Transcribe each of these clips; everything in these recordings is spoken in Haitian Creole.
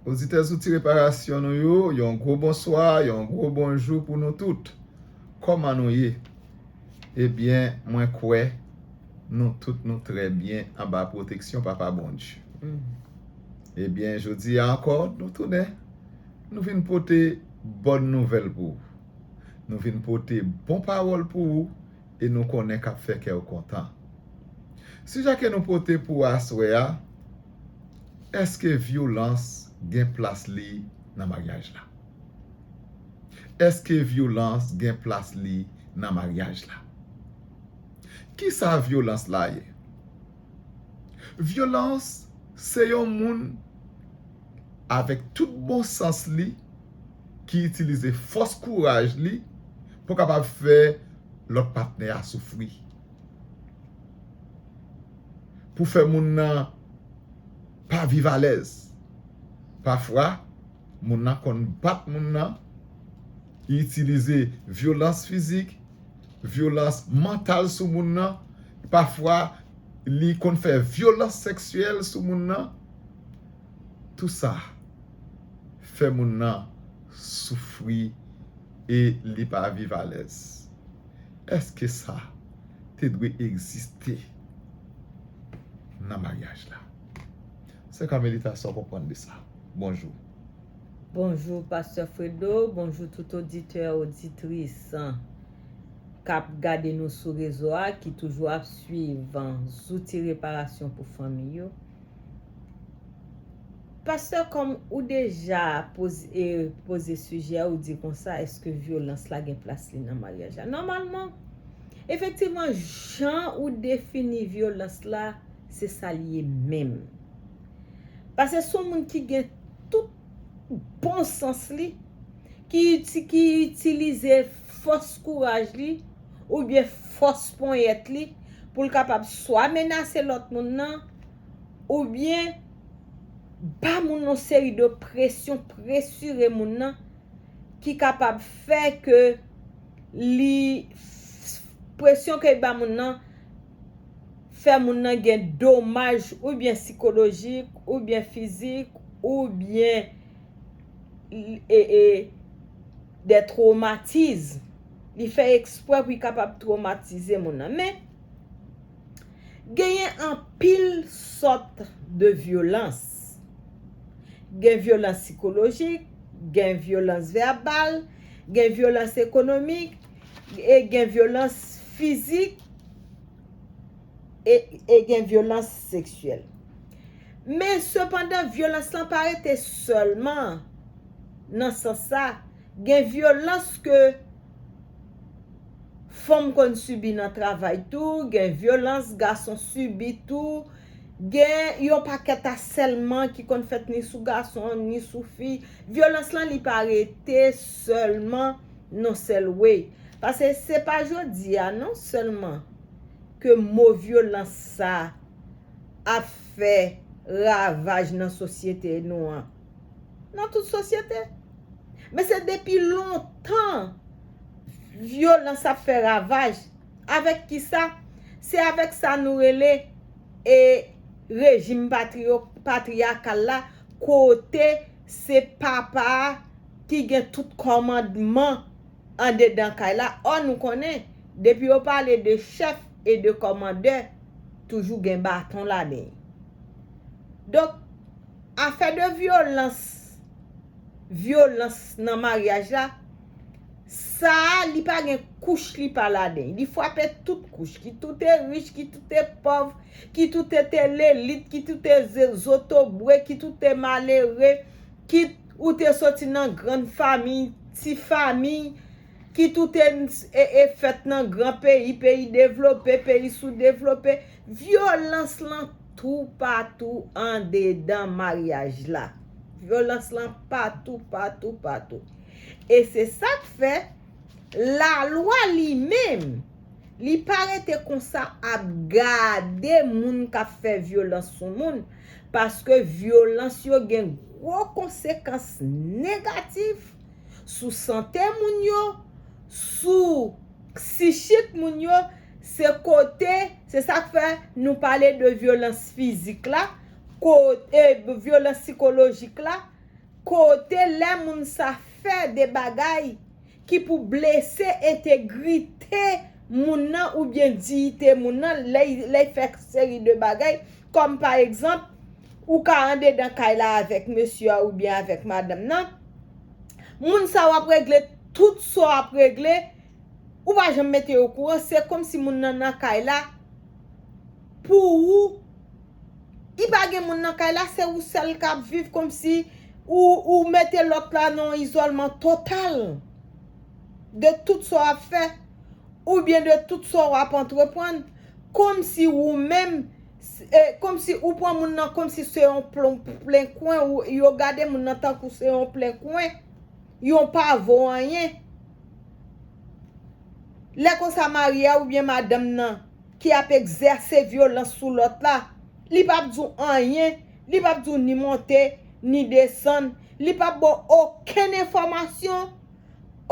Oditè Zouti Reparasyon nou yo, yon gwo bonswa, yon gwo bonjou pou nou tout. Kòman nou ye? Ebyen, mwen kwè nou tout nou trè byen anba pwoteksyon Papa Bondye. Ebyen, jodi a ankò, nou tounen, nou vin pote bòn nouvèl pou ou. Nou vin pote bon pawòl pou ou e nou konnen k'ap fè kè ou kontan. Sijè ke nou pote pou aswè a, Èske vyolans gen plas li nan maryaj la? Èske vyolans gen plas li nan maryaj la? Kisa vyolans la ye? Vyolans se yon moun avèk tout bon sans li. ki itilize fòs kouraj li pou kapab fè lòt patnè a soufri. Pou fè moun nan pa viv alèz. Pafwa, moun nan konn bat moun nan, li itilize vyolans fizik, vyolans mantal sou moun nan, pafwa li konn fè vyolans seksyèl sou moun nan. tou sa fè moun nan soufri e li pa viv alèz. Èske sa te dwe egziste nan maryaj la? Sè Carmelita sa w konprann de sa? Bonjou. Bonjou pastè Fredo, bonjou tout oditè oditris kap gade nou sou rezo a ki toujou ap swiv zouti reparasyon pou fanmi yo. Pastè kòm ou deja poze sijè ou di konsa eske vyolans la gen plas li nan maryaj la. Nòmalman, efektivman jan ou defini vyolans la se sa li ye menm. Pase son moun ki gen tout bon sans li, ki itilize fòs kouraj li oubyen fòs ponyèt li pou l kapab swa menase lòt moun nan, oubyen ba moun yon seri de presyon, presire moun nan ki kapab fè ke li, presyon ke y ba moun nan fè moun nan gen domaj oubyen sikolojik, oubyen fizik, oubyen de tromatiz. Li fè eksprè pou y kapab tromatize moun nan. Men, Genyen anpil sòt de vyolans. Gen vyolans sikolojik, gen vyolans vèbal, gen vyolans ekonomik, e gen vyolans fizik, e gen vyolans seksyèl. Men sepandan vyolans lan pa rete sèlman nan sans sa, gen vyolans ke Fanm konn sibi nan travay tou, gen vyolans gason sibi tou, gen yon pakèt asèlman ki konn fèt ni sou gason, ni sou fi. Vyolans lan li pa rete sèlman non sèl way. Pase se pa jodi a non sèlman ke mo vyolans sa ap fè ravaj nan sosyete nou an. nan tout sosyete. Men se depi lontan vyolans ap fè ravaj. Avèk ki sa? Se avèk sa nou rele e rejim patriyakal la kote se papa a ki gen tout kòmandman andedan kay la. Ò nou konnen, depi yo pale de chèf e de kòmandè, toujou gen baton ladan l. Donk. Afè de vyolans, vyolans nan maryaj la, sa a li pa gen kouch li pa laden. Li fwape tout kouch, ki tou te rich, ki tou te pòv, ki tou te te lelit, ki tou te zotobre, ki tou te malere, kit ou te soti nan grann famiy, ti famiy, kit ou te fèt nan gran peyi, peyi devlope, peyi soudevlope, Vyolans lan toupatou andedan maryaj la. Vyolans lan patou, patou, patou. E se sa k fè, lalwa li menm, li pa rete konsa ap gade moun k ap fè vyolans sou moun, paske vyolans yo gen gwo konsekans negatif. sou sante moun yo, sou psichik moun yo, se kote, se sa k fè nou pale de vyolans fizik la, kote vyolans sikolojik la, kote lè moun sa fè de bagay ki pou blese entegrite moun nan oubyen diyite moun nan, lè y fè seri de bagay Kòm pa egzanp, ou ka andedan kay la avèk mesye a oubyen avèk madanm nan, moun sa w ap regle tout sa w ap regle, ou pa janm mete yo okouran, se kòmsi moun nan nan kay la pou ou, li pa gen moun nan kay la, se ou sèl k ap viv kòmsi ou mete lòt la nan yon izòlman total de tout sa w ap fè oubyen de tout sa w ap antreprann. Komsi ou menm Komsi ou pran moun nan komsi se yon plen kwen yo gade moun nan tankou se yon plen kwen yon pa vo anyen lè konsa mari a oubyen madanm nan ki ap egzèse vyolans sou lòt la li pap di w anyen li pap di w ni monte ni desann li pap ba w okenn enfòmasyon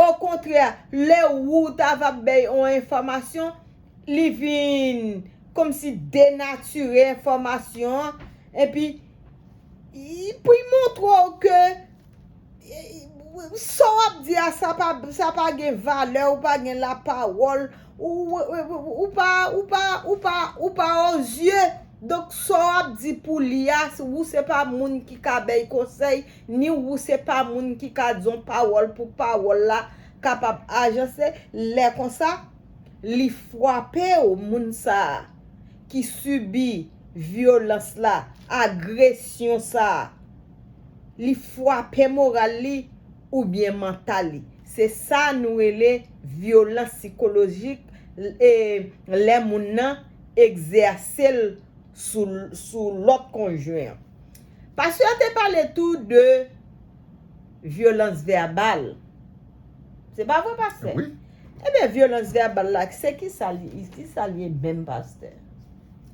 okontrè lè ou ta va bèy yon enfòmasyon Li vin komsi denatire enfòmasyon an epi pou y montre w ke sa w ap di a sa pa gen valè ou pa gen lapawòl ou pa ou pa ou pa ou pa ozye donk sa w ap di pou li a ou se pa moun ki ka bè y konsèy ni ou se pa moun ki ka di yon pawòl pou pawòl la kapab ajanse lè konsa. li fwape w moun sa a ki sibi vyolans la, agresyon sa a, li fwape moral li oubyen mantal li. Se sa nou rele vyolans sikolojik lè moun nan egzèse l sou lòt konjwen an. Pastè a te pale tou de vyolans vèbal. Se pa vre pastè? Ebyen vyolans vèbal la se kisa li ye kisa li ye menm pastè?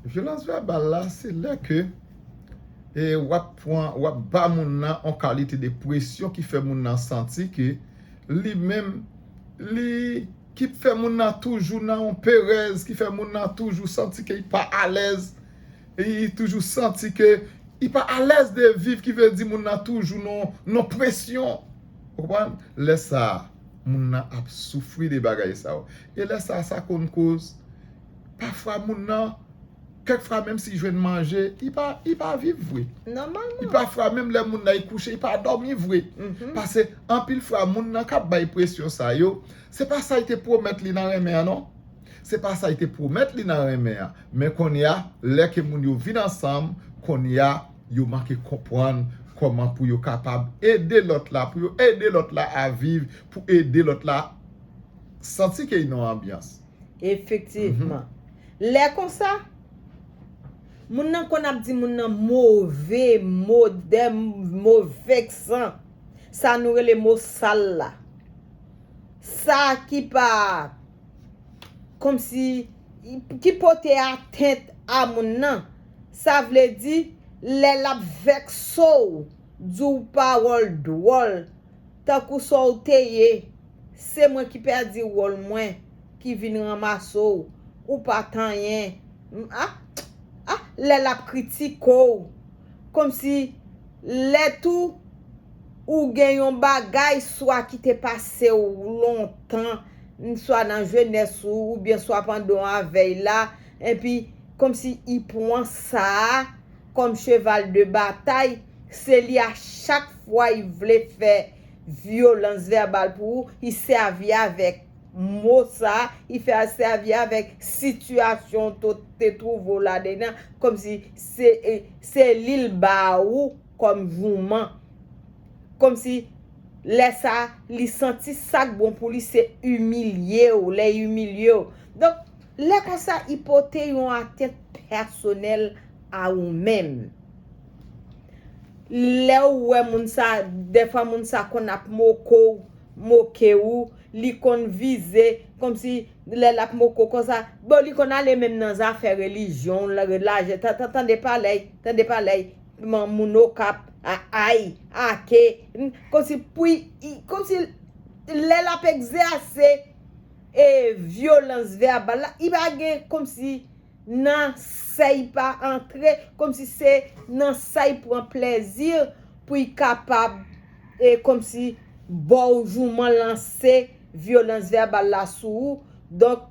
Vyolans vèbal la se lè ke wap pran wap ba moun nan yon kalite de presyon ki fè moun nan santi ke li menm li ki fè moun nan toujou nan yon perèz ki fè moun nan toujou santi ke li pa alèz li toujou santi ke li pa alèz de viv ki vle di moun nan toujou nan yon presyon ou konprann lè sa. moun nan ap soufri de bagay sa yo. E lè sa a, sa konn koz, pafwa moun nan, kèk fwa menm si jwenn manje, li pa, li pa viv vre. Nòmalman. E pafwa menm lè moun nan al kouche, li pa dòmi vre. Pase anpil fwa moun nan kap bay presyon sa yo, se pa sa li te pwomèt li nan renmen an non. Se pa sa li te pwomèt li nan renmen an. Men kounye a, lè ke moun yo vin ansanm, kounye a, yo manke konprann kòman pou yo kapab ede lòt la, pou yo ede lòt la a viv, pou ede lòt la santi ke li nan yon anbyans. Efektivman. Lè konsa, moun nan konn ap di moun nan move mo, de mo veksan, sa nou rele mo sal la. Sa ki pa. Komsi, ki pote atent a moun nan. Sa vle di, lè l ap vèkse w, di w pawòl dwòl, tankou sa w te ye, se mwen ki pèdi wòl mwen, ki vin ranmase w, ou pa t anyen, m a, a, lè l ap kritike w, komsi. Lè tou ou gen yon bagay swa ki te pase w lontan, swa nan jenès ou, oubyen swa pandan w avèy la, enpi kòmsi i pwan sa a kòm cheval de batay, se li a chak fwa i vle fè vyolans vèbal pou ou, i sèvi avèk. mo sa, i fè a sèvi avèk sitiyasyon w te twouve w ladenn an kòmsi se li l ba ou kòm jouman. Kòmsi lè sa a, li santi sa k bon pou li se imilye w, lè y imilye w. Donk, lè konsa, i pote yon atent pèsonèl a ou menm. Lè w wè moun sa, dèfwa moun sa konn ap moko w, moke ou, li konn vize komsi lè lap moko konsa bon li konn ale menm nan zafè relijyon lajè tande paley tande paley kman moun okap aay ake komsi pwi komsi lè lap egzèse e vyolans vèbal la li pa gen komsi nan say pa antre komsi se nan say pran plezi pouy kapab e komsi baw jouman lanse vyolans vèbal la sou ou donk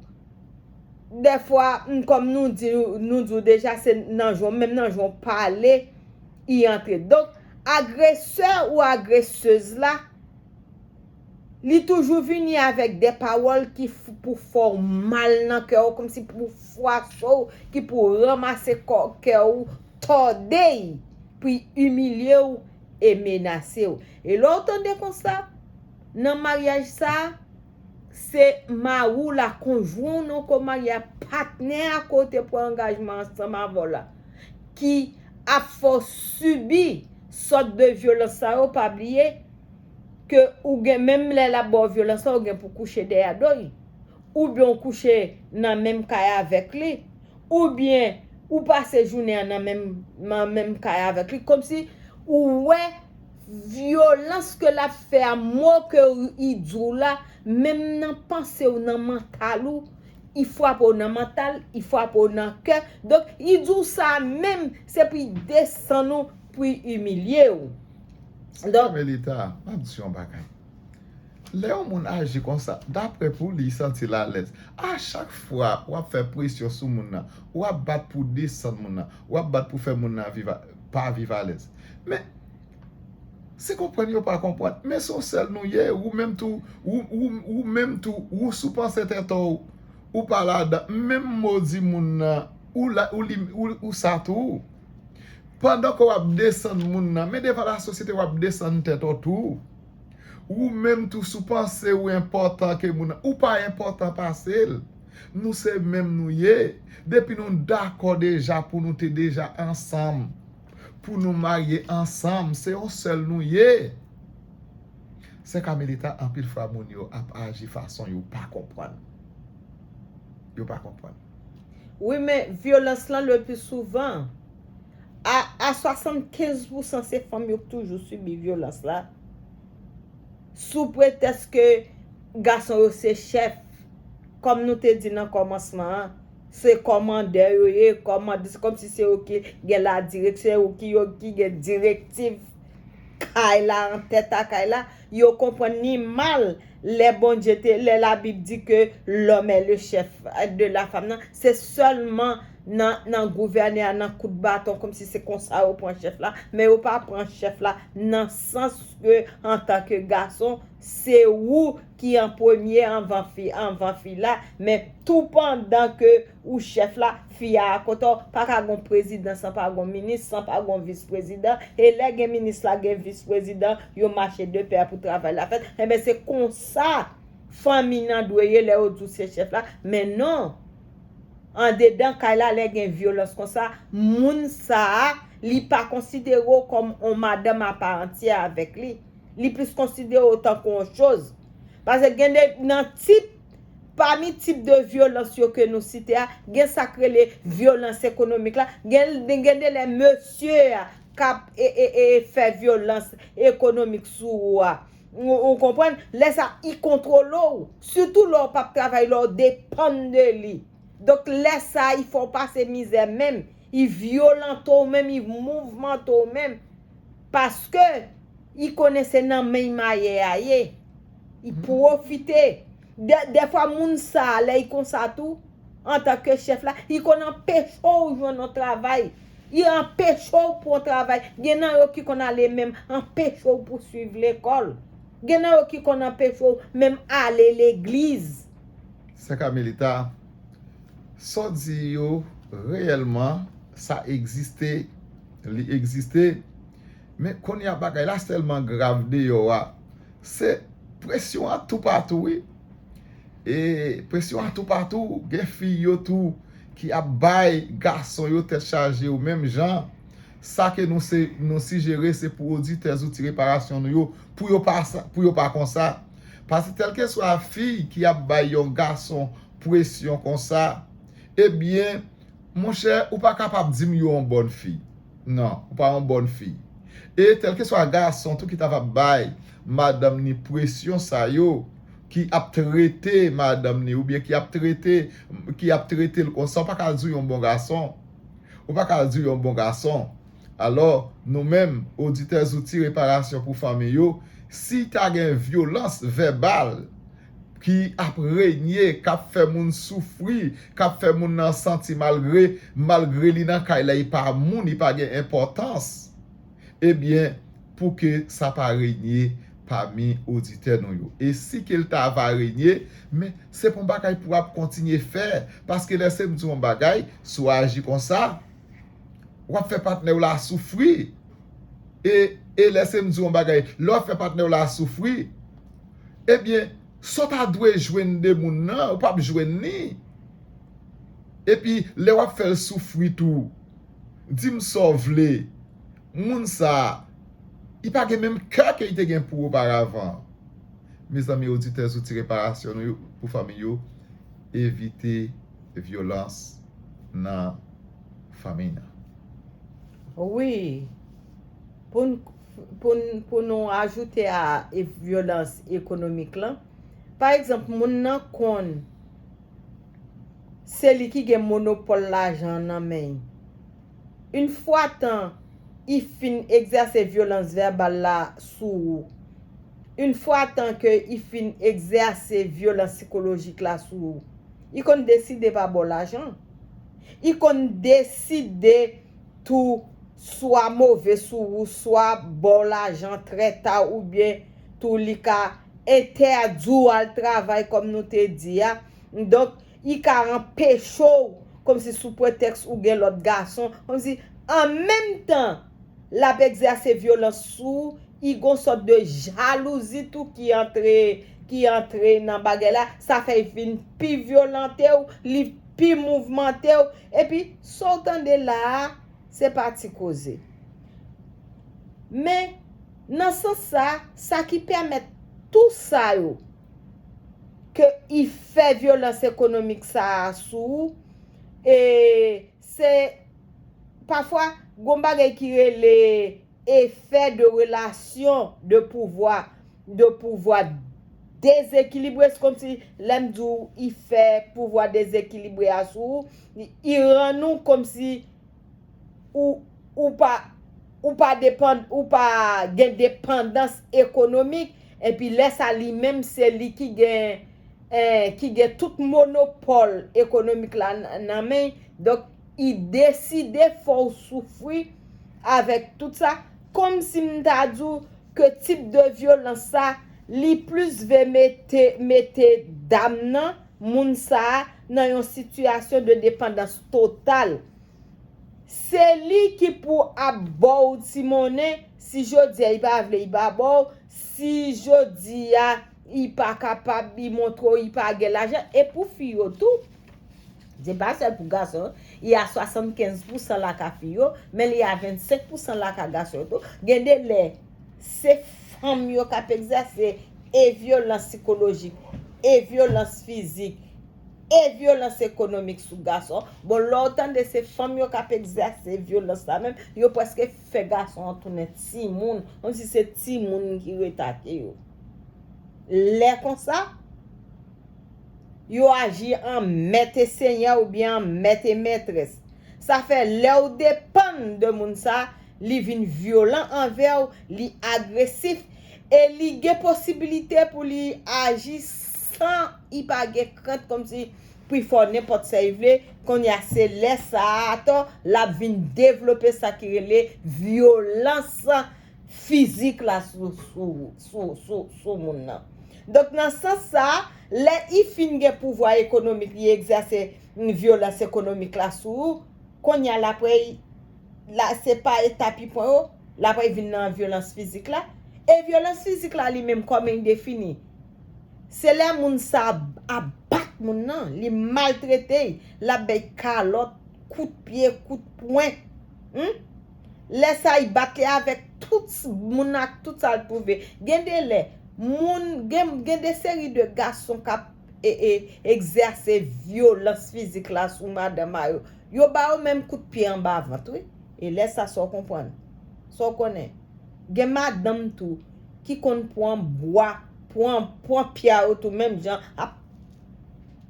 dèfwa m kòm nou di nou di w deja se nan jan menm nan jan w pale i antre donk agresè ou agresez la. Li toujou vini avèk de pawòl ki pou fè w mal nan kè w, kòmsi pou fwache w, ki pou ranmase kò kè w, tòde y, pou y imilye w e menase w. E lè w tande konsa, nan maryaj sa a, se mari w la, konjwen w nan kò marye a, patnè a ke w te pran angajman ansanm avè w la, ki ap fè w sibi sòt de vyolans sa yo, pa bliye, ke ou gen menm lè lap baw vyolans la ou gen pou kouche dèyè doy oubyen ou kouche nan menm kay avèk li oubyen ou pase jounen an nan menm nan menm kay avèk li komsi ou wè vyolans ke lap fè a mo ke li diw la menm nan pansew nan mantal ou li fwape w nan mantal li fwape w nan kè donk li diw sa menm se pou li desann ou pou li imilye w. Sa ki rive leta, map di yon bagay. Lè yon moun aji konsa, daprè pou li santi l alèz. A chak fwa ou ap fè presyon sou moun nan, ou ap bat pou desann moun nan, ou ap bat pou fè moun nan viv, pa viv alèz. Men, se konprann yo pa konprann. Men son sèl nou ye, ou menm tou, ou menm tou, ou sou panse tèt ou, ou pa ladan. Menm modi moun nan, ou sa tou. Pandan ke w ap desann moun nan, men devan lasosyete w ap desann tèt ou tou. Ou menm tou si w panse ou enpòtan ke moun nan, ou pa enpòtan pase l. Nou se menm nou ye. Depi nou dakò deja pou nou te deja ansanm, pou nou marye ansanm, se yon sèl nou ye. Sè Kamelita, anpil fwa moun yo ap aji fason yo pa konprann. Yo pa konprann. Wi men vyolans lan le pli souvan a 75 pousan se fanm yo k toujou sibi vyolans la sou pretès ke gason yo se chèf kòm nou te di nan kòmansman an se kòmandè yo ye kòmandè se kòm si se yo ki gen la dirèk se yo ki gen direktiv kay la an tèt a kay la Yo konprann ni mal lè Bondye te lè la bib di ke lòm è le chèf de la fam nan se sèlman nan nan gouvène a nan kout baton kòm si se konsa yo pran chèf la men yo pa pran chèf la nan sans ke antan ke gason se ou ki an premye anvan fi anvan fi la men tou pandan ke Ou chef la, fi a akote w, pa ka gon prezidan san pa gon minis, san pa gon vis prezidan, e lè gen minis la gen vis prezidan, yo mache de pè pou travay la fèt, enben se konsa fanmiy nan dwe ye lè yo di w se chef la, men non, andedan kay la lè gen vyolans konsa, moun sa a, li pa konsidere w kòm on madanm a pa antyè avèk li, li plis konsidere w tankou on choz, pase gen de nan tip. Pami tip de vyolans yo ke nou site a, gen sa k rele vyolans ekonomik la, gen de lè mesye a k ap fè vyolans ekonomik sou ou a, ou konprann, lè sa i kontwole w, sitou lè w p ap travay, lè w depann de li. Donk lè sa i fè w pase mizè menm, i vyolante w menm, i mouvmante w menm. Paske i konnen se nan men y mayè a ye. I pwofite. Dèfwa moun sa a, lè y konsa tou, antanke chèf la, i konn anpeche w jwenn yon travay. I anpeche w pran travay. Gen nan yo ki konn ale menm anpeche w pouswiv lekòl. Gen nan yo ki konn anpeche w menm ale legliz. Sè Kamelita, sa w di yo reyèlman sa egziste Li egziste, men kounye a bagay la sèlman grav deyò a. Se presyon an toupatou wi. E presyon an toupatou, gen fi yo tou ki ap bay gason yo tèt chaje yo menm jan. Sa ke nou sijere se pou oditè Zouti Reparasyon nou yo, pou yo pa konsa. Paske kèlkeswa fi ki ap bay yon gason presyon konsa, ebyen, Monchè, ou pa kapab di m you on bòn fi. Non, ou pa on bòn fi. E kèlkeswa gason tou ki ta va bay madanm ni presyon sa yo, ki ap trete madanm ni oubyen ki ap trete, ki ap trete l konsa, ou pa ka di w yon bon gason. Ou pa ka di w yon bon gason. Alò, nou menm, oditè Zouti Reparasyon pou Fanmi yo, si ta gen vyolans vèbal, ki ap renye, k ap fè moun soufri, k ap fè moun nan santi malgre, malgre li nan kay la, li pa moun, li pa gen enpòtans, ebyen, pou ke sa pa renye pami oditè nou yo. E si ke l ta va renye, men, se pa yon bagay pou ap kontinye fè, paske lè se m di w yon bagay, si w aji konsa, w ap fè patnè w la soufri, e, e lè se m di w yon bagay, lè w ap fè patnè w la soufri, ebyen sa w ta dwe jwenn de moun nan ou pap jwenn li epi lè wap fè l soufri tou di m sa w vle moun sa li pa gen menm kè ke li te gen pou ou oparavan mezanmi oditè zouti reparasyon nou yo pou fanmi yo evite vyolans nan fanmi nan. Wi. pou nou ajoute a vyolans ekonomik lan, pa egzanp moun nan konn se li ki gen monopòl lajan an nan men. Yn fwa tan i fin egzèse vyolans vèbal la sou ou, yn fwa tan ke i fin egzèse vyolans sikolojik la sou ou, i konn deside pa ba w lajan. I konn deside tou. swa move sou ou swa baw lajan trè ta oubyen tou li ka entèdiw al travay kòm nou te di a donk li ka anpechew kòmsi sou pretèks ou gen lòt gason kòmsi an menm tan lap egzèse vyolans sou ou li gon sòt de jalouzi tou ki antre ki antre nan bagay la sa fè li vin pi vyolantew li pi mouvemantew epi saw tande la a. Se pa ti koze. Men, nan sans sa, sa ki pèmèt tou sa yo, ke y fè vyolans ekonomik sa a sou ou, e se, pafwa, gon bagay ki rele efè de relasyon de pouvwa, de pouvwa dezekilibre, se kòmsi, lè m di w, y fè pouvwa dezekilibre a sou ou, Iran nou komsi ou ou pa ou pa depan ou pa gen depandans ekonomik epi lè sa li menm se li ki gen eh ki gen tout monopòl ekonomik la nan men donk i deside fè w soufri avèk tout sa komsi m ta di w ke tip de vyolans sa li plis ve mete mete dam nan moun sa a nan yon sitiyasyon de depandans total. Se li ki pou ap ba w ti monnen, si jodi a li pa vle li pa ba w, si jodi a li pa kapab, li montre w li pa gen lajan, e pou fi yo tou, se pa sèl pou gason yo, li a 75 pousan laka fi yo, men li a 25 pousan laka gason yo tou, gen de lè. Se fanm yo k ap egzèse e vyolans sikolojik, e vyolans fizik, e vyolans ekonomik sou gason. Bon, lè w tande se fanm yo k ap egzèse vyolans la menm, yo prèske fè gason an tounen timoun, kòmsi se timoun ki ret ak yo. Lè konsa, yo aji an mèt e senyè oubyen an mèt e mètrès. Sa fè lè w depann de moun sa a, li vin vyolan anvè w, li agresif, e li gen posibilite pou li aji san i pa gen krent kòmsi pou i fè w nenpòt sa i vle, kounye a se lè sa a atò l ap vin devlope sa ki rele vyolans fizik la sou moun nan. Donk nan sans sa a, lè i fin gen pouvwa ekonomik li egzèse vyolans ekonomik la sou ou, kounye a l apre la se pa eta pi pwen yo, l apre vin nan vyolans fizik la. E vyolans fizik la li menm kòman li defini? Se lè moun sa a ap bat moun nan, li maltrete l, l ap bay kalòt, kout pye, kout pwen. Hum! Lè sa li bat li avèk tout moun nan ak tout sa l twouve. Gen de lè, moun, gen de seri de gason k ap. egzèse vyolans fizik la sou madan ma yo, yo ba yo menm kout pye anba vant wi, e lè sa sa w konprann, sa w konnen, gen madanm tou ki konn pran bwa, pran, pran pya yo tou menm jan ap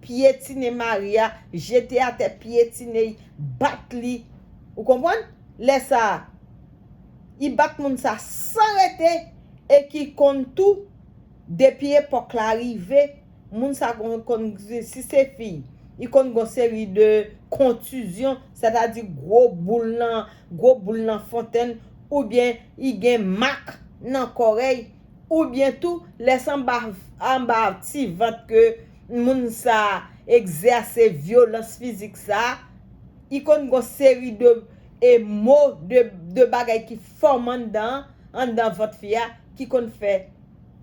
pyetine mari a, jete atè pyetine y, bat li, ou konprann, lè sa y bat moun sa san rete e ki konn tou. Depi epòk la rive, moun sa konn, si se fi, li konn gon seri de kontizyon, sètadi gwo boul nan, gwo boul nan fontenn, oubyen li gen mak nan kòrèy, oubyen tou lè se anba, anba ti vant ke moun sa egzèse vyolans fizik sa, li konn gon seri de e mo, de bagay ki fòm anndan, anndan vant fi a, ki konn fè.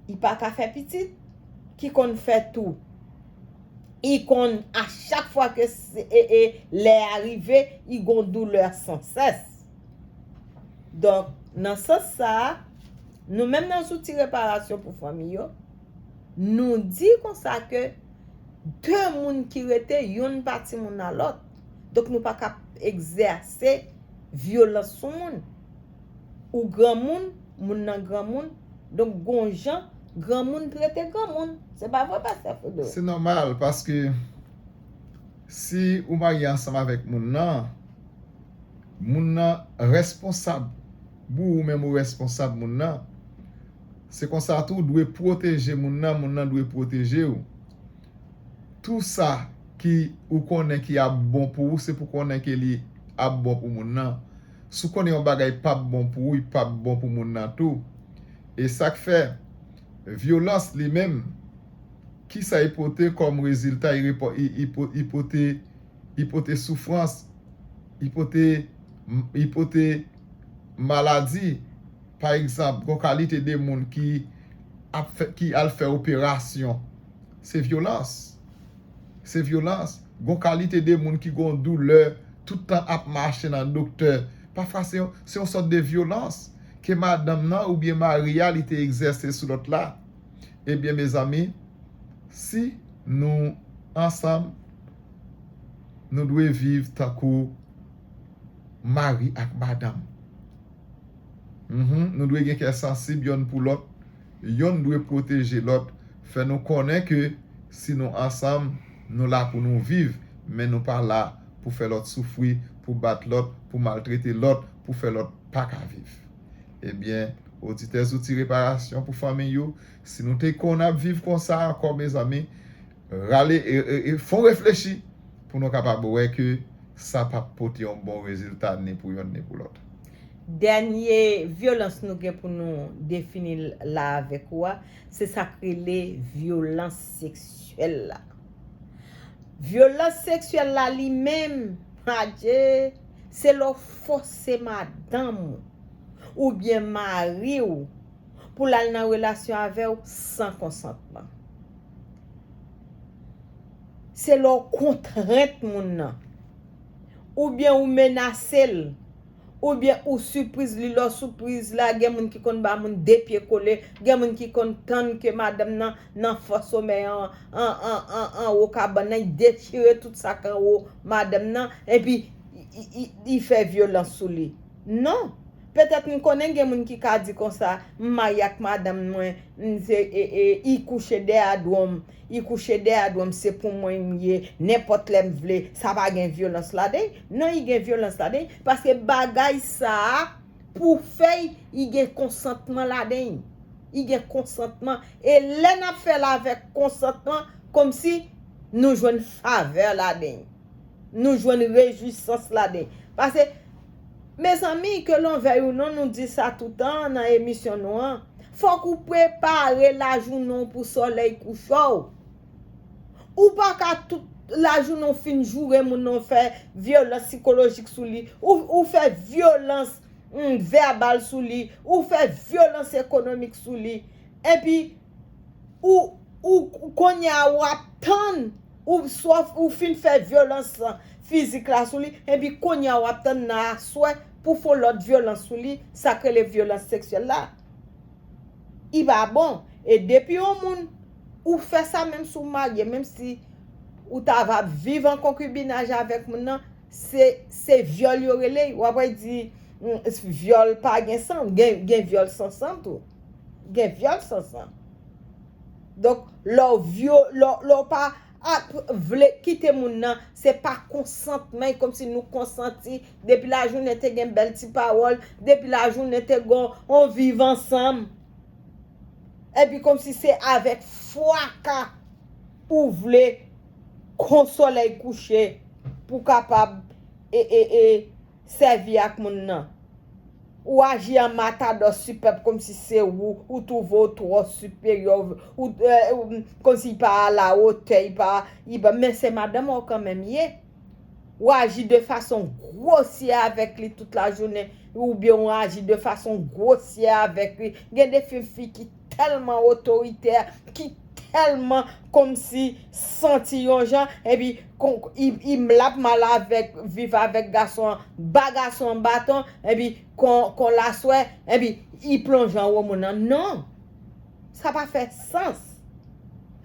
I pa ka fè pitit. Ki konn fè tou. I konn a chak fwa ke lè a rive, i gon doulè san sès. Donk, nan sans sa, nou menm nan zouti reparasyon pou fanmi yo, nou di konsa ke 2 moun ki rete, youn pa timoun a lòt. Donk nou pa ka egzèse vyolans sou moun. ou granmoun, moun nan granmoun, donk gon jan granmoun trete granmoun. Se pa vre pastè Fedor? Se nòmal paske si ou marye ansanm avèk moun nan, moun nan responsab pou ou menm ou responsab moun nan. Se konsa tou ou dwe pwoteje moun nan, moun nan dwe pwoteje ou. Tou sa ki ou konnen ki ap bon pou ou se pou konnen ke li ap bon pou moun nan. Si w konnen yon bagay p ap bon pou ou, li p ap bon pou moun nan tou. E sa k fè, vyolans li menm, ki sa li pote kòm rezilta? Li pote soufrans, li pote maladi. Pa egzanp, gon kalite de moun ki al fè operasyon, se vyolans. Se vyolans. Gon kalite de moun ki gon doulè tout tan ap mache nan doktè. Pafwa se yon se yon sòt de vyolans ke madanm nan oubyen mari a li te egzèse sou lòt la. Ebyen mezanmi si nou ansanm nou dwe viv tankou mari ak madanm. Mph nou dwe gen kè sansib yonn pou lòt. yonn dwe pwoteje lòt, fè nou konnen ke si nou ansanm, nou la pou nou viv, men nou pa la pou fè lòt soufri, pou bat lòt, pou maltrete lòt, pou fè lòt pa ka viv. Ebyen, oditè Zouti Reparasyon pou Fanmi yo, si nou te konn ap viv konsa ankò mezanmi, Rale e fon reflechi pou nou kapab wè ke sa pa p pote yon bon rezilta ni pou yonn ni pou lòt. Dènye vyolans nou gen pou nou defini la avèk ou a, se sa k rele vyolans seksyèl la. Vyolans seksyèl la li menm, adje, se lè w fòse madanm ou oubyen mari w pou l al nan relasyon avè w san konsantman. Se lè w kontrent moun nan. Oubyen ou menase l. Oubyen ou sipriz li. Lè w sipriz la, gen moun ki konn ba moun 2 pye kole. Gen moun ki konn tann ke madanm nan nan fo somèy an, anwo kabann nan, li detire tout sa ki anwo madanm nan, epi li fè vyolans sou li. Non! Petèt m konnen gen moun ki ka di konsa, M marye ak madanm mwen, m se e e i kouche dè adwo m, i kouche dè adwo m se pou mwen m ye, nenpòt lè m vle, sa pa gen vyolans laden l? Non i gen vyolans laden l, paske bagay sa a pou fè l, i gen konsantman laden l, i gen konsantman, e lè n ap fè l avèk konsantman, kòmsi nou jwenn favè laden l, nou jwenn rejwisans laden l, pase. Mezanmi ke lonvè you non nou di sa toutan nan emisyon nou an fok ou prepare lajounen w pou solèy kouche w ou pa ka tout lajounen w fin joure moun nan w fè vyolans sikolojik sou li ou fè vyolans vèbal sou li ou fè vyolans ekonomik sou li epi ou ou kounya ou ap tann ou fin fè vyolans fizik la sou li, epi kounye a wap tann nan aswè pou fon lòt vyolans sou li, sak rele vyolans seksyèl la. I pa bon. E depi yon moun, ou fè sa menm si w marye, menm si ou ta va viv an konkibinaj avèk moun nan, se vyòl yo rele. Ou ap wè y di, vyòl pa gen san, gen vyòl san san tou. Gen vyòl san san. Donk lè w vyo, lè w pa vle kite moun nan, se pa konsantman, e kòmsi nou konsanti, depi lajounen te gen bèl ti pawòl, depi lajounen te gen yon viv ansanm. Epi kòmsi se avèk fraka ou vle kon solèy kouche pou kapab e e e Sèvi ak moun nan. Ou aji an matadò su pèp komsi se ou, ou twouve w twò siperyè, ou komsi y pa alawotè, y pa, y pa, men se madanm an w kanmenm ye. Ou aji de fason gwosyè avèk li tout lajounen, oubyen ou aji de fason gwosyè avèk li. Gen de fi fi ki. tèlman otoritè, ki tèlman kòmsi santi yon jan, epi konn l ap mal avèk, viv avèk gason an, ba gason an baton, epi konn l aswè, epi li plonje anwo moun nan. Non! Sa pa fè sans.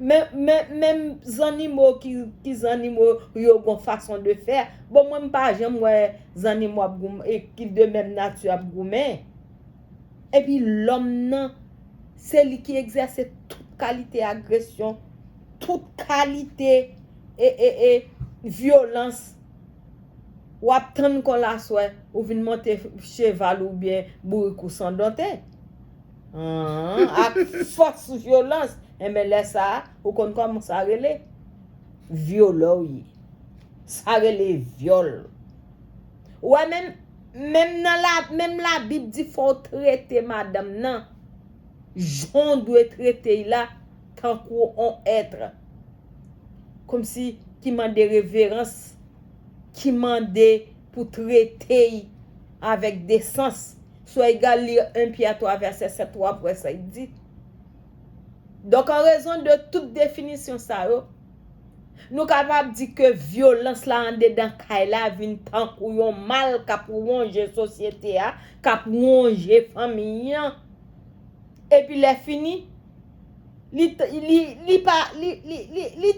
Men, menm zannimo ki zannimo yo gon fason de fè. Bon, mwen m pa janm wè zannimo ap goumen, ki de menm nati ap goumen. Epi lòm nan, se li ki egzèse tout kalite agresyon, tout kalite e e e vyolans. W ap tann kòl aswè, ou vin monte cheval ou oubyen bourik ou san donte. An, ak fòs vyolans. Enben lè sa a, ou konn kòman sa rele? Vyolè w ye. Sa rele vyòl. Ou wè menm menm nan la menm la bib di fòw trete madanm nan janw dwe trete y la tankou on être komsi ki mande reverans ki mande pou trete y avèk desans sou egal li 1 Pyè 3 vèsè 7 wap wè sa y di donk an rezon de tout definisyon sa yo. Nou kapab di ke vyolans la andedan kay la vin tankou yon mal k ap wonje sosyete a, k ap wonje fanmi an. Epi lè fini, li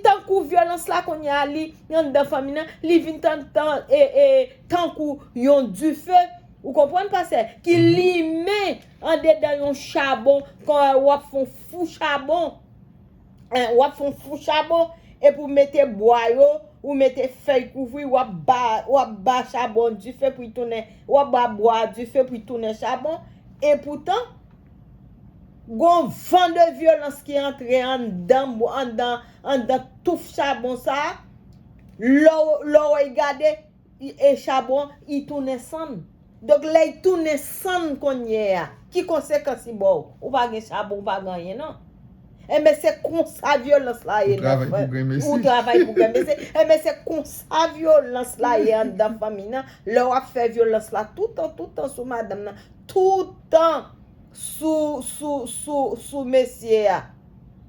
tankou vyolans la kounye a li anndan fanmi nan, li vin tankou yon dife, ou konprann pastè, ki limen andedan yon chabon, kon w ap fè yon fou chabon. eh, wap fon fou chabon epi ou mete bwa yo, ou mete fèy kouvri wap ba wap ba chabon dife pou li tounen wap ba bwa a dife pou li tounen chabon e poutan gon van de vyolans ki antre anndan anndan anndan touf chabon sa lè w lè w gade E chabon I tounen sann. Donk lè I tounen sann konnye a, ki konsekans I ba w? Ou pa gen chabon, ou pa gen anyen non. Enben se konsa vyolans la ye nan fanmi. Ou travay pou granmesi. Enben se konsa vyolans la ye anndan fanmi nan. Lè w ap fè vyolans la toutan, toutan sou madanm nan, toutan sou mesye a.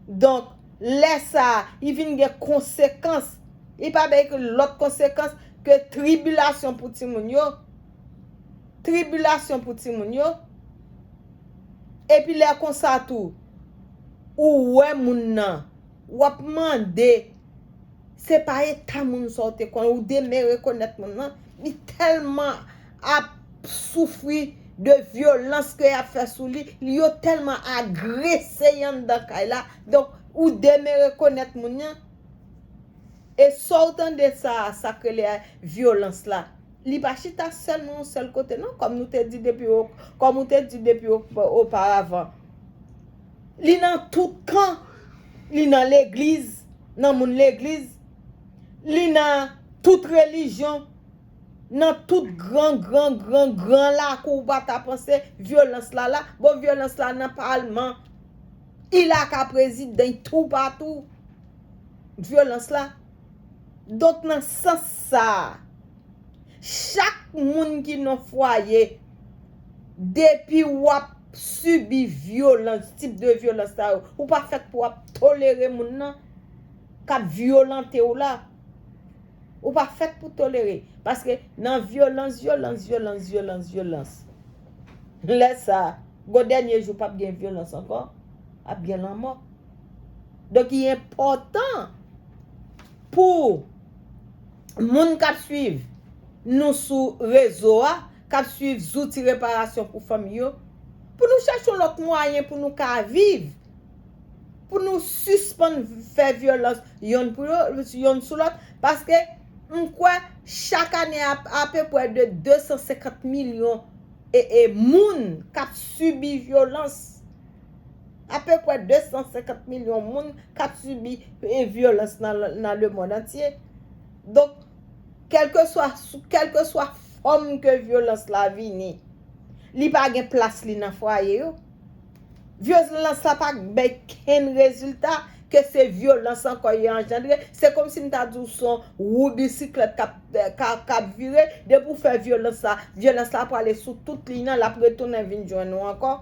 Donk. Lè sa a, li vin gen konsekans. Li pa bay ke lòt konsekans ke tribilasyon pou timoun yo. Tribilasyon pou timoun yo. Epi lè konsa tou, ou wè moun nan, w ap mande, se pa eta moun sa w te konnen, ou demere konèt moun nan, li tèlman. ap soufri de vyolans ke yap fè sou li, li yo tèlman agrese y anndan kay la, donk ou demere konèt moun nan, e sa w tande sa a, sa k rele vyolans la, li pa chita sèlman yon sèl kote non, kòm nou te di depi o, kòm ou te di depi o, oparavan, li nan tout kan, li nan legliz, nan moun legliz, li nan tout relijyon, Nan tout gran gran gran gran lakou ou pa ta panse vyolans la la, bon vyolans la nan palman y la ka prezidan y tou pa tou vyolans la. Donk nan sans sa a chak moun ki nan fwaye depi w ap sibi vyolans tip de vyolans sa yo ou pa fèt pou w ap tolere moun nan k ap vyolante w la. Ou pa fèt pou tolere. Paske nan vyolans, vyolans, vyolans, vyolans, vyolans. Lè sa, gwo dènye jou pap gen vyolans ankò, ap gen lanmò. Donk li enpòtan pou moun k ap suiv nou sou rezo a, k ap suiv zouti reparasyon pou fanmi yo, pou nou chèche yon lòt mwayen pou nou ka viv. pou nou sispann fè vyolans yonn pou yo yonn sou lòt paske m kwè chak ane apepwè de 250 milyon e moun kap sibi vyolans apepwè 250 milyon moun kap sibi vyolans nan le mond antye donk kelke swa kelke swa fòm ke vyolans la vini li pa gen plas li nan fwaye yo. Vyolans la pa k bay kenn rezilta, ke se vyolans ankò y anjandre, se kòmsi m ta di w son wou bisiklèt k ap k ap vire, depi w fè vyolans la, vyolans la prale sou tout liy nan, l ap retounen vin jwenn ou ankò.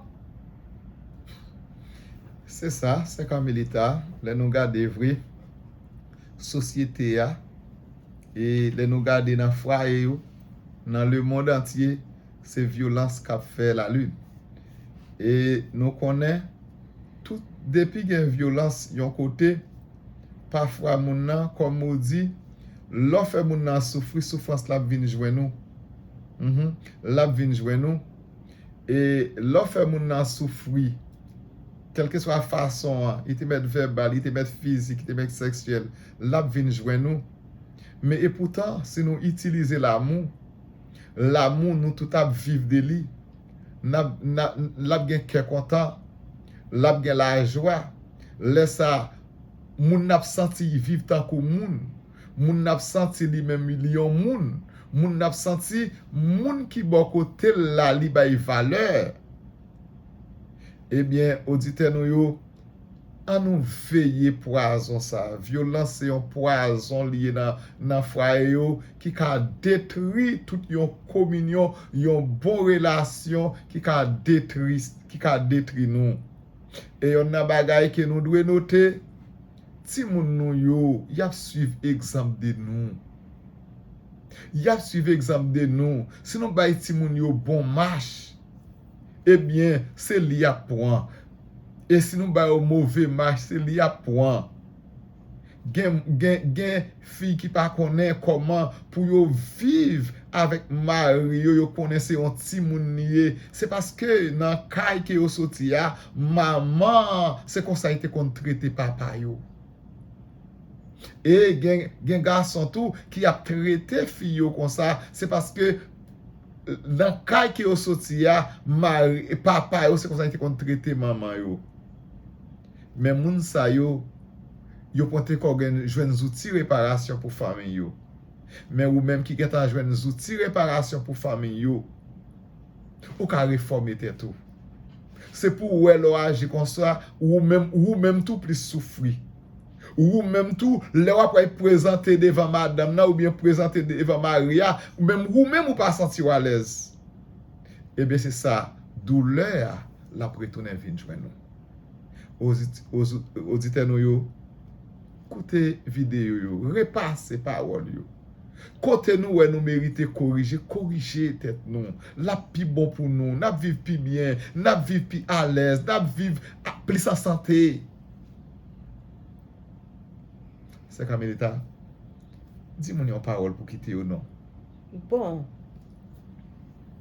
Se sa, sè Carmelita, lè nou gade vre, sosyete a, e lè nou gade nan fwaye yo, nan lemond antye, se vyolans kap fè la lune e nou konnen tout depi gen vyolans yon kote pa fwa moun nan kòm ou di lè w fè moun nan soufri soufrans la ap vin jwenn ou humm lap vin jwenn ou e lè w fè moun nan soufri kèlke swa fason an li te mèt vèbal li te mèt fizik li te mèt sèksyèl lap vin jwenn ou men e poutan si nou itilize lanmou Lamou nou tout ap viv de li. N ap, n ap, l ap gen kè kontan. L ap gen lajwa. Lè sa a, moun nan ap santi li viv tankou moun. Moun nan ap santi li menm li yon moun. Moun nan ap santi moun ki bò kote l la li bay valè. Ebyen, oditè nou yo, An nou veye pwazon sa. Vyolans se yon pwazon li ye nan fwaye yo ki ka detri tout yon kominyon, yon bon relasyon ki ka detri, ki ka detri nou. E yonn nan bagay ke nou dwe note, timoun nou yo, y ap swiv egzanp de nou. Y ap swiv egzanp de nou. Si nou bay timoun yo bon mach, ebyen se li y ap pran. E si nou ba yo move mach se li yap pwan. Gen fi ki pa konnen koman pou yo viv avek mari yo yo konnen se yon timoun li ye se paske nan kay ke yo soti a manman an se konsa li te konn trete papa yo. E gen gason tou ki ap trete fi yo konsa se paske Nan kay ke yo soti a, mari, papa yo se konsa yo te konn trete manman yo. Men moun sa yo, yo pote kò gen, jwenn zouti reparasyon pou fanmiy yo. Men ou menm ki gen tan jwenn zouti reparasyon pou fanmiy yo, ou ka refòme tèt ou. Se pou ou wè lè w aji konsa, ou menm, ou menm tou plis soufri. Wou menm tou, lè w ap pral prezante devan madanm nan oubyen prezante devan mari a, menm wou menm ou pa santi w alèz, ebyen se sa doulè a l ap retounen vin jwenn ou. Oditè nou yo, koute videyo yo, repase pawòl yo. Kote nou wè nou merite korije, korije tèt nou. L ap pi bon pou nou, n ap viv pi byen, n ap viv pi alèz, n ap viv plis an sante. Sè Carmelita, di moun yon pawòl pou kite yo non. Bon,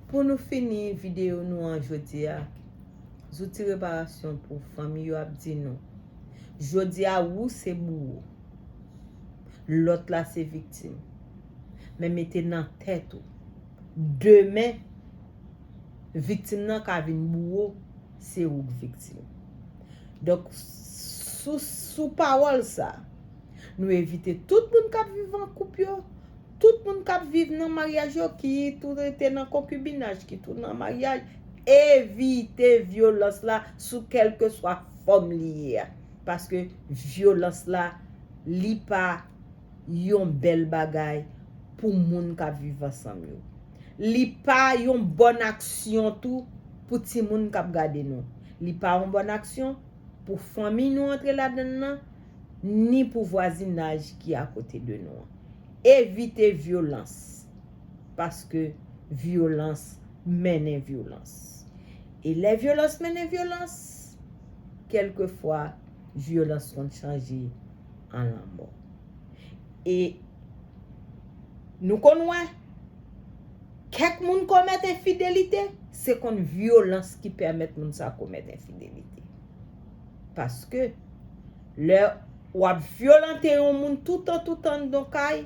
pou nou fini videyo nou an jodi a, zouti reparasyon pou fanmi yo ap di nou, jodi a wou se bouwo, lòt la se viktim, men mete nan tèt ou, demen, viktim nan ka vin bouwo. se ou k viktim. Donk, sou pawòl sa, nou evite tout moun k ap viv an koup yo, tout moun k ap viv nan maryaj yo, ki tou rete nan konkibinaj, ki tou nan maryaj, evite vyolans la sou kèlkeswa fòm li ye a. Paske vyolans la, li pa. yon bèl bagay pou moun k ap viv ansanm yo. Li pa yon bòn aksyon tou pou timoun k ap gade nou. Li pa yon bòn aksyon pou fanmi nou antre ladan l lan, ni pou vwazinaj ki akote de nou an. Evite vyolans, paske vyolans mennen vyolans. E lè vyolans mennen vyolans, kèlkefwa vyolans konn chanje. an lanmò. E nou konn wè, kèk moun komèt enfidelite, se konn vyolans ki pèmèt moun sa komèt enfidelite. Paske, lè w ap vyolante yon moun toutan toutan anndan yon kay,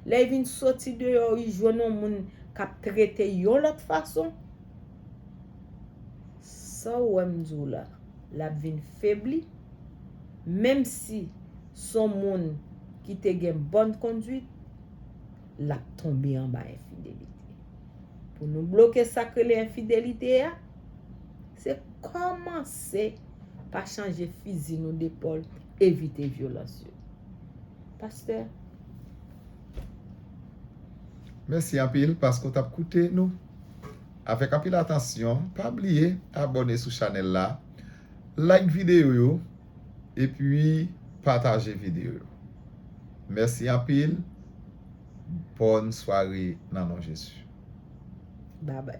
lè li vin soti deyò li jwenn yon moun k ap trete l yon lòt fason, sa w wè m di w la, l ap vin febli. menm si s on moun ki te gen bòn konduit, l ap tonbe anba enfidelite. Pou nou bloke sa k rele enfidelite a, se kòmanse pa chanje fizi nou depòl, evite vyolans yo. Pastè. Mèsi anpil paske w t ap koute nou avèk anpil atansyon. Pa bliye abòne sou chanèl la. Like video yo epi pataje video yo mèsi anpil bòn sware nan non Jezi. Babay.